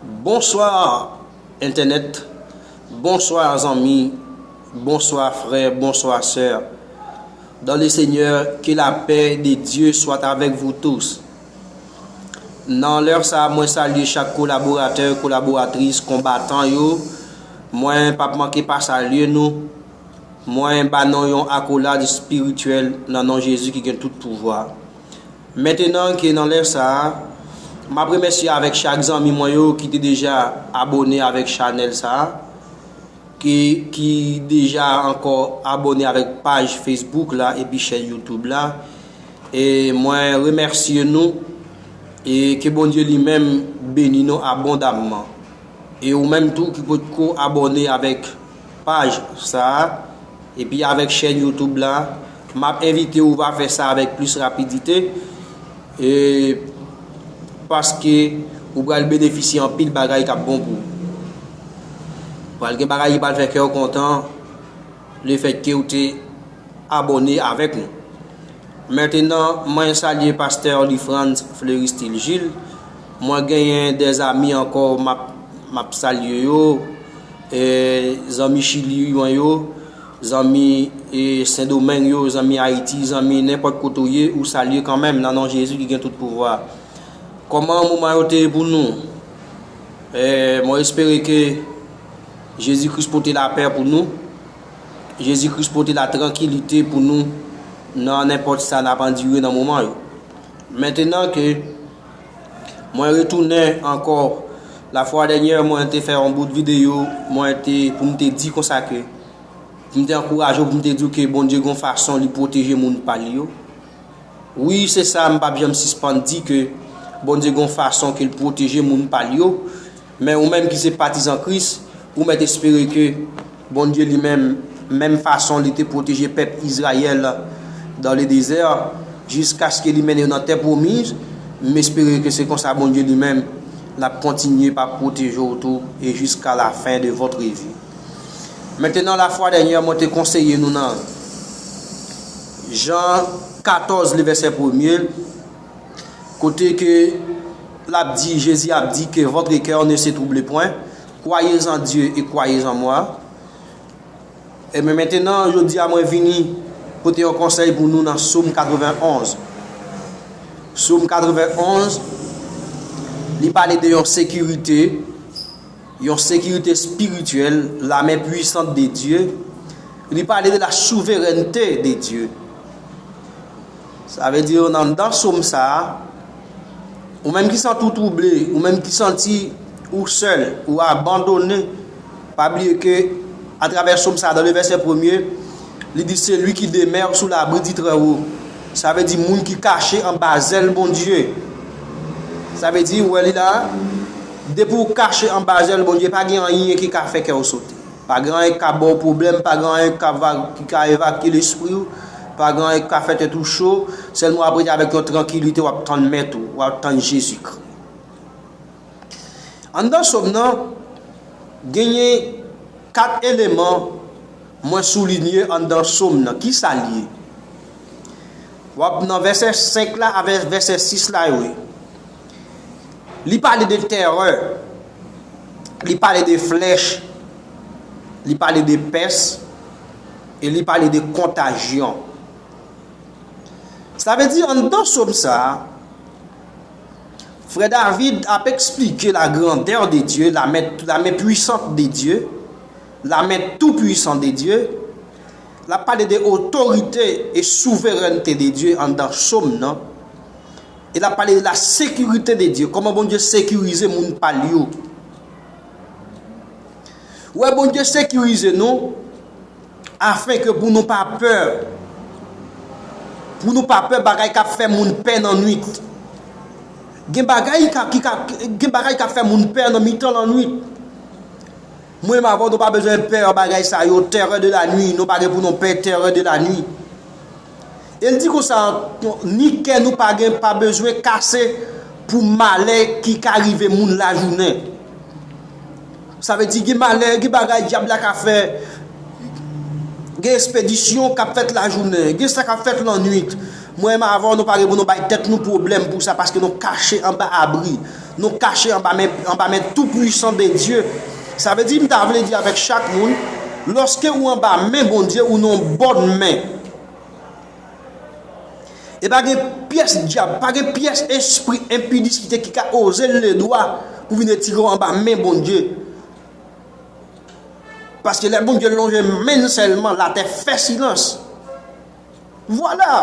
Bonsoir entènèt Bonsoir zanmi Bonsoir frè Bonsoir sè Dan le senyè ke la pè de Dye swat avèk vou tous Nan lè sa mwen salye chak kolaboratè kolaboratris konbatan yo mwen pap manke pa salye nou mwen ba nou yon akolad espirityèl nan non Jezi ki gen tout pouvwa. Mentenan ke nan lè sa a, m ap remèsye avèk chak zanmi mwen yo ki te deja abone avèk chanèl sa a, ke ki deja ankò abone avèk paj Facebook la epi chèn YouTube la. E mwen remèsye nou e ke Bondye li menm beni nou abondamman. E ou menm tou ki potko abone avèk paj sa a, Epi avèk chèn YouTube la, map envite ou va fè sa avèk plis rapidite e paske ou pral benefisye anpil bagay kap bon pou ou. Pral gen bagay ki pral fè kèw kontan le fèt ke ou te abòne avèk nou. Mètenan mwen salye pastè Lifrantz Fleuristil Gilles, mwen genyen de zami ankò map salye yo. Zanmi chili mwen yo, zanmi sendomeng yo, zanmi ayiti, zanmi nenpòt kote ou ye ou salye kanmenm nan non jezi ki gen tout pouvwa. Kòman moman yo te ye pou nou? Mwen espere ke jezi kris pote lapè pou nou, jezi kris pote la trankilite pou nou nan nenpòt sa nap andire nan moman yo. Mentenan ke. Mwen retounen ankò la fwa dènyè mwen te fè yon bout videyo mwen te pou m te di konsa ke pou m te ankouraje ou pou m te di ke Bondye gon fason li pwoteje moun pa li yo. Wi se sa m pap janm sispann di ke Bondye gon fason ke l pwoteje moun pa l yo. Men ou menm ki se patizan Kris, ou mèt espere ke Bondye li menm, menm fason li te pwoteje pèp Izrayèl dan le dezè, jiskaske li mennen yo nan tè pwomiz, m espere ke se konsa Bondye li menm l ap kontinye pa pwoteje w tou e jiska la fen de votre vi. Mentenan la fwa dènyè mwen te konseye nou nan Jan 14 le vèsè premye, Kote ke lap di, Jezi ap di ke votre coeur ne se trouble point, Croyez en Dieu et croyez en moi. Enben mentenan, jodi a mwen vini pote yon konsèy pou nou nan Somme 91. Somme 91, li pale de yon sekirite, yon sekirite spirityèl, la men puisant de Dye, li pale de la souverènte de Dye. Sa vle di yo nan anndan som sa a, ou menm ki santi w twouble, ou menm ki santi ou sèl, ou abandone, pa bliye ke atravè som sa a, dan le vèsè premye, li di celui qui demeure sous l'abri du très haut, sa vle di moun ki kache anba zèl Bondye. Sa vle di, ou wè li la a, depi w kache anba zèl Bondye, pa gen anyen ki ka fè kè w sote. Pa gen anyen ki ka ba w pwoblèm, pa gen anyen ki ka evakye lespri w, pa gen anyen ki ka fè tèt ou cho, sèlman w ap rete avèk yon trankilite w ap tann Mèt ou, w ap tann Jezikri. Anndan Som nan, genyen 4 eleman mwen soulinye anndan Som nan. Kisa l ye? W ap nan vèsè 5 la avèk vèsè 6 la yo ye. Li pale de tèrè, li pale de flèch, li pale de pès, e li pale de kontajyon. Sa vle di anndan som sa a, frè David ap esplike la grandè de Dye, la men pwisant de Dye, la men tou pwisan de Dye, l ap pale de otorite e souverènte de Dye anndan som nan, E lap pale de la securite de Dieu, koman Bondye sekirize moun pal yo. Ou wè Bondye sekirize nou afin ke pou nou pa pè, pou nou pa pè bagay kap fè moun pè nan nwit. Gen bagay ki ka, gen bagay kap fè moun pè nan mitan la nwit. Mwen menm avèw nou pa bezwen pè bagay sa yo, terreur de la nuit, nou pa gen pou nou pè terreur de la nuit. E l di konsa ankò, Ni kè nou pa gen pa bezwen kase pou malè ki ka rive moun lajounen. Sa vle di gen malè, gen bagay dyab la ka fè, gen espedisyon k ap fèt lajounen, gen sa k ap fèt lannuit. Mwen menm avè w nou pa gen pou nou bay tèt nou pwoblèm pou sa paske nou kache anba abri. Nou kache anba men, anba men tou pwisan BnDye. Sa vle di, m ta vle di avèk chak moun, lòske ou anba men BnDye, ou nan yon bòn men. E pa gen pyès dyab, pa gen pyès espri enpidiskite ki ka oze leve dwa pou vin retire w anba men BnDye. Paske lè BnDye lonje men n sèlman, latè fè silans. Vwala!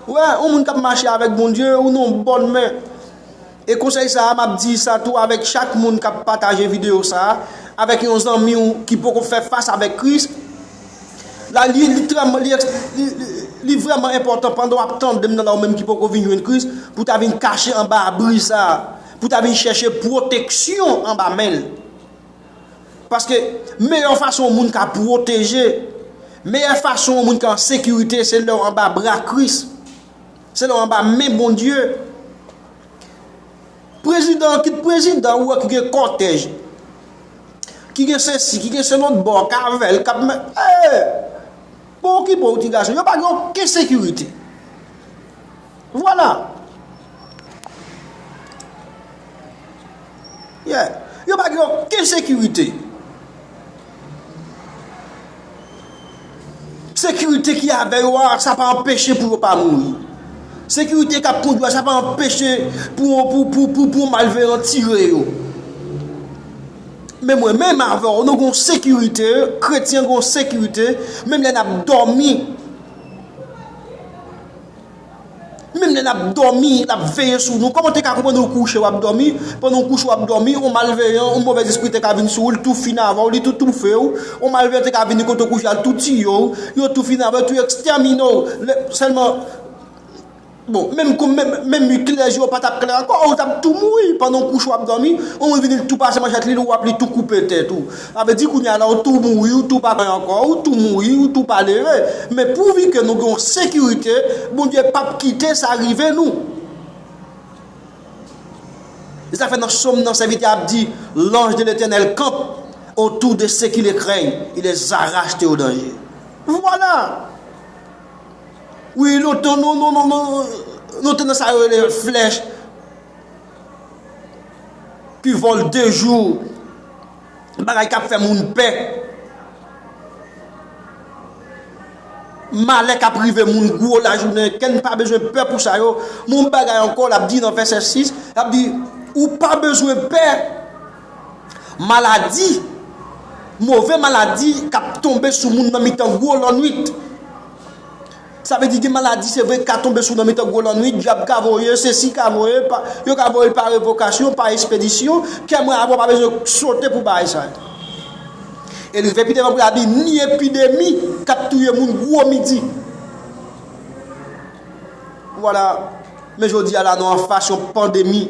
Ou wè, yon moun k ap mache avèk Bondye, ou nan yon bòn men. E konsèy sa a, m ap di sa tou avèk chak moun k ap pataje videyo sa a avèk yon zanmi ou ki poko fè fas avèk Kris la, li litrèman, li èks, li, li, li vrèman enpòtan pandan w ap tande m nan la, ou menm ki poko vin jwenn Kris, pou w ta vin kache anba abri sa a, pou w ta vin chèche pwoteksyon anba men l. Paske meyè fason yon moun ka pwoteje, meyè fason yon moun ka an sekirite se lè w anba bra Kris, se lè w anba men Bondye. Prezidan, kit prezidan ou wè ki gen kòtèj, ki gen sesi, ki gen selotbò, kavèl, kap men, eee, pou okipe w ti gason, yo pa gen oken sekirite. Vwala! Yeah! Yo pa gen oken sekirite. Sekirite ki avè yo a, sa pa anpeche pou yo pa mouri. Sekirite k ap kondwi a, sa pa anpeche pou yon malveyan tire yo. Men mwen menm avè w, nou gen yon sekirite, kretyen gen yon sekirite, menm lè n ap dòmi. Menm lè nap dòmi lap veye sou nou kòman ou te ka konprann ou kouche wap dòmi pandan ou kouche wap dòmi yon malveyan yon movèz espri te ka vin sou ou li tou fin avèw li tou toufe ou yon malveyan te ka vini kote ou kouche al tou tiye ou yo tou fin avèw tou ekstèmine ou lè sèlman bon menm kou menm menm klè je ou pa tap klè ankò ou tap tou mouri pandan ou kouche wap dòmi yon moun vini li tou pase manchèt li li wap li tou koupe tèt ou. Sa vle di kounye a la ou tou mouri ou tou pa kwè ankò, ou tou mouri ou tou palere. Men pouvi ke nou gen yon sekirite, Bondye pap kite sa rive nou. Se sa fè nan Som nan sèvitè a ap di, L'ange de l'Etènèl kanp otou de se ki le krèy, e les arache de o danje. Vwala! Wi lontan nou nou te nan sa yo rele flèch ki vole de jou. Bagay kap fè moun pè. Malè kap rive moun gwo lajounen. Kèn pa bezwen pè pou sa yo. Moun bagay ankò lap di nan vèsè 6. Lap di ou pa bezwen pè. Maladi. Move maladi kap tonbe sou moun nan mitan gwo lannwit. Sa vle di gen maladi se vre ka tonbe sou nan mitan gwo lannwit, dyab ka voye, sesi ka voye, yo ka voye l pa revokasyon, pa espedisyon, kè mwen avè w pa bezwen sote pou bagay sa yo. E rive pi devan pou la di ni epidemi k ap touye moun gwo midi. Vwala, men jodi a la nou anfas yon pandemi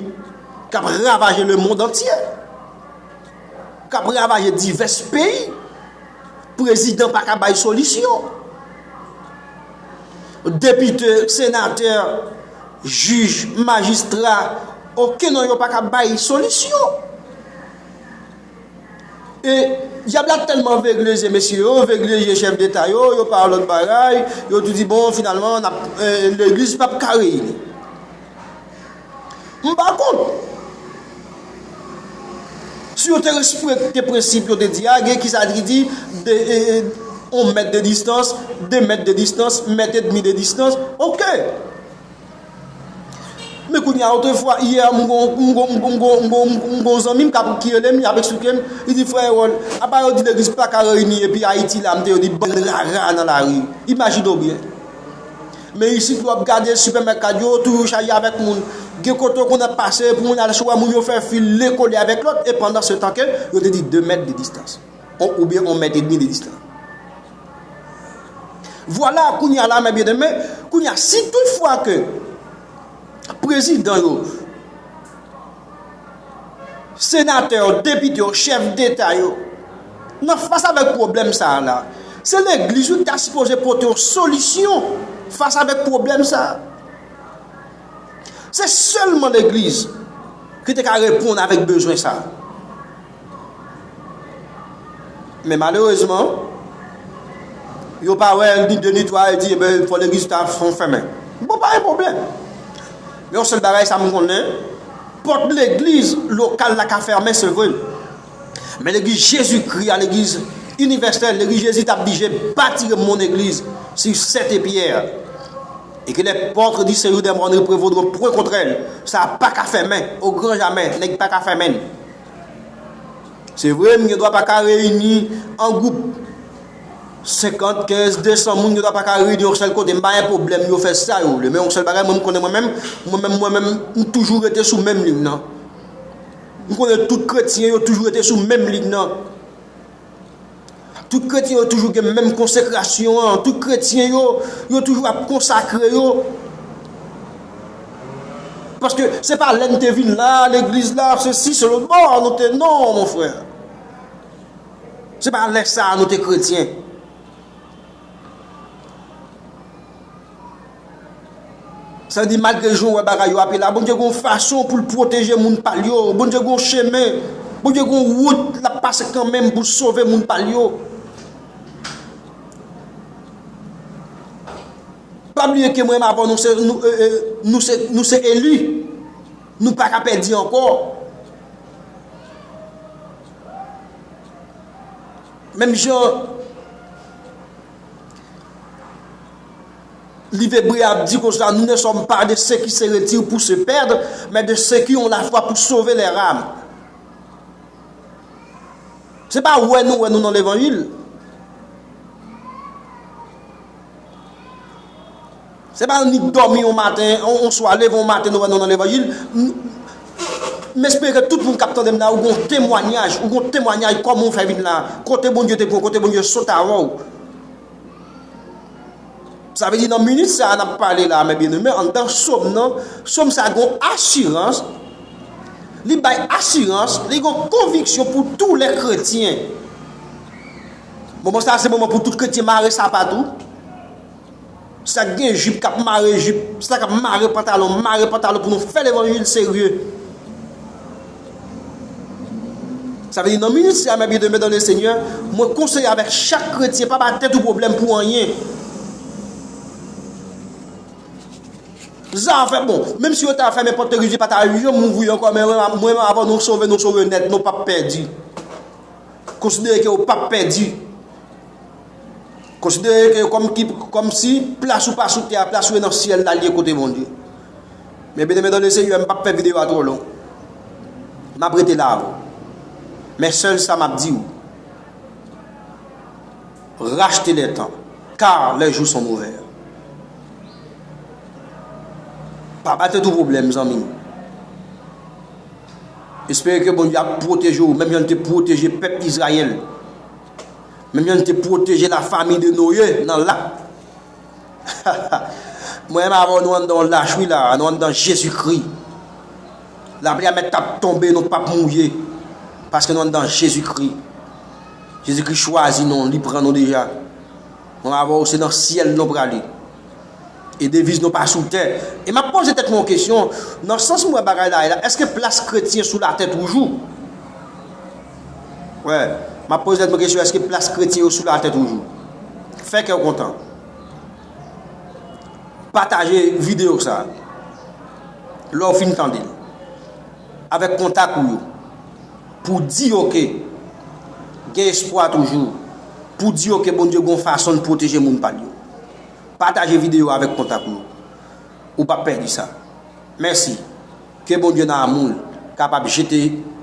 k ap ravaje lemond antye, k ap ravaje divès peyi, prezidan pa ka bay solisyon. Depite, senatè, jij, majistra, oken nan yo pa ka bay solisyon. E, dyab la tèlman vegle zye mesye yo, vegle zye chèf deta yo, yo pa wè lòt bagay, yo tou di bon finalman, legliz pa p ka reyini. M pa kont. Si yo te respekte prensip yo te di a, gen ki sa ki di 1 mèt de distans, 2 mèt de distans, mèt edmi de distans, ok. Men kounye a otre fwa, yè m gon zanmi m ki rele m, li ap esplike m, li di frè Erol, apa yo di legliz pa ka reyini epi Ayiti la, m te yo di bann rara nan lari. Imajine w byen. Men isit wap gade sipèmèkad yo toujou chaje avèk moun. Gen kote ou konn ap pase pou moun al sou wè moun yo fè fil len kole avèk lòt e pandan se tan ke yo te di 2 mèt de distans. On oubyen on mèt edmi de distans. Vwala kounye a la men byen demen, kounye a si tout fwa ke prezidan yo Senatè yo, depite yo, chèf deta yo, nan fas avèk pwoblèm sa a la, se legliz yo ki ta sipoze pote yon solisyon fas avèk pwoblèm sa a. Se sèlman legliz ki te ka reponn avèk bezwen sa a. Men malerezman, yo pa wè ni de ni twa, yo di ebe fò legliz ta fon fèmen. Bon pa gen pwoblèm. Men yon sèl bagay sa m konnen, pòt legliz lokal la ka fèmen se vre. Men legliz Jezikri a, legliz inivèsèl, legliz Jezi ta blije bati yon moun egliz si sete pyè. E ke lè pòtre di seyou dè mòn reprevodron pwen kontrèl, sa pa ka fèmen, o gran jamè, nèg pa ka fèmen. Se vre, m gen dwa pa ka reyini an gwoup 50, 15, 200 moun, m gen dwa pa ka reyini yon sèl kote, m pa gen pwoblèm yo fè sa yo vle. Men yon sèl bagay mwen m konnen mwen menm, mwen menm mwen menm, m toujou rete sou menm liy nan. M konnen tout kretyen yo toujou rete sou menm liy nan. Tout kretyen yo toujou gen menm konsekrasyon an, tout kretyen yo, yo toujou ap konsakre yo. Paske se pa lè n te vin la, legliz la, se si, se lòt bò, nou te non, mon frè. Se pa lè sa nou te kretyen. Sa di malgre jan w wè bagay yo ape la, Bondye gen yon fason pou l pwoteje moun pa l yo. Bondye gen yon chemen, Bondye gen yon wout l ap pase kanmenm pou l sove moun pa l yo. Pa bliye ke mwen m avè w nou se eli, nou pa ka pèdi ankò. Menm jan. Livebre ap di konsa, Nous ne sommes pas de ceux qui se retirent pour se perdre, mais de ceux qui ont la foi pour sauver leur âme. Se pa wè nou wè nou nan levanjil. Se pa annik dòmi yon maten, yon swa, leve yon maten nou wè nou nan levanjil. M espere tout moun k ap tande m la ou gen yon temwanyaj, ou gen yon temwanyaj kòman ou fè vin la, kote Bondye te pran w, kote Bondye sot avè w. Sa vle di nan minit sa a n ap pale la a mè byeneme, anndan Som nan, Som sa a gen yon asirans, li bay asirans, li gen yon konviksyon pou tou lè kretyen. Moman sa a se moman pou tout kretyen mare sapat ou. Sak gen jip kap mare jip, sa kap mare pantalon mare pantalon pou nou fè levanjil serye. Sa vle di nan minit sa mè byen deme dan le senyè, mwen konseye avèk chak kretyen pa ba tèt ou pwoblèm pou anyen. Zafè bon, menm si yo ta fèmen pòt legliz li pa ta janm ouvri ankò men mwen menm avan nou sove nou sove nèt nou pap pèdi. Konsidere ke ou pap pèdi. Konsidere ke kòm ki, kòm si, plas ou pa sou tè a, plas ou e nan syèl la li ye kote Bondye. Men byeneme dan le Senyè, m pap fè videyo a twò long. M ap rete la avè w. Men sèl sa m ap di w, rachte le tan, kar les jours sont mauvais. Pa bay tèt ou pwoblèm zanmi m. Espere ke Bondye ap pwoteje w menm jan li te pwoteje pèp Izrayèl. Menm jan li te pwoteje lafanmi de Noye nan lak. Ha ha! Mwen menm avè w nou anndan yon lach wi la a, nou anndan Jezikri. Lapli a mèt tap tonbe nou pap mouye, paske nou anndan Jezikri. Jezikri chwazi nou, li pran nou deja. Mwen avè w se nan syèl nou prale. E deviz nou pa sou tè. E m ap poze tèt mwen yon kesyon, nan sans m wè bagay la ye la, èske plas kretyen sou latè toujou? Wè, m ap poze tèt mwen kesyon, èske plas kretyen yo sou latè toujou? Fè kè w kontan. Pataje videyo sa a, lè w fin tande l, avèk kontak ou yo, pou w di yo ke gen espwa toujou, pou w di yo ke Bondye gen yon fason l pwoteje moun pa l yo. Pataje video avek kontak nou ou pap pèdi sa mèsi ke Bondye nan amoul kapab jete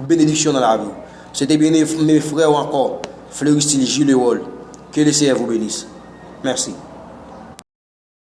benediksyon nan laviw se te byen eme frèw ankò Fleuristil Julerold ke le Seyè vou benis mèsi.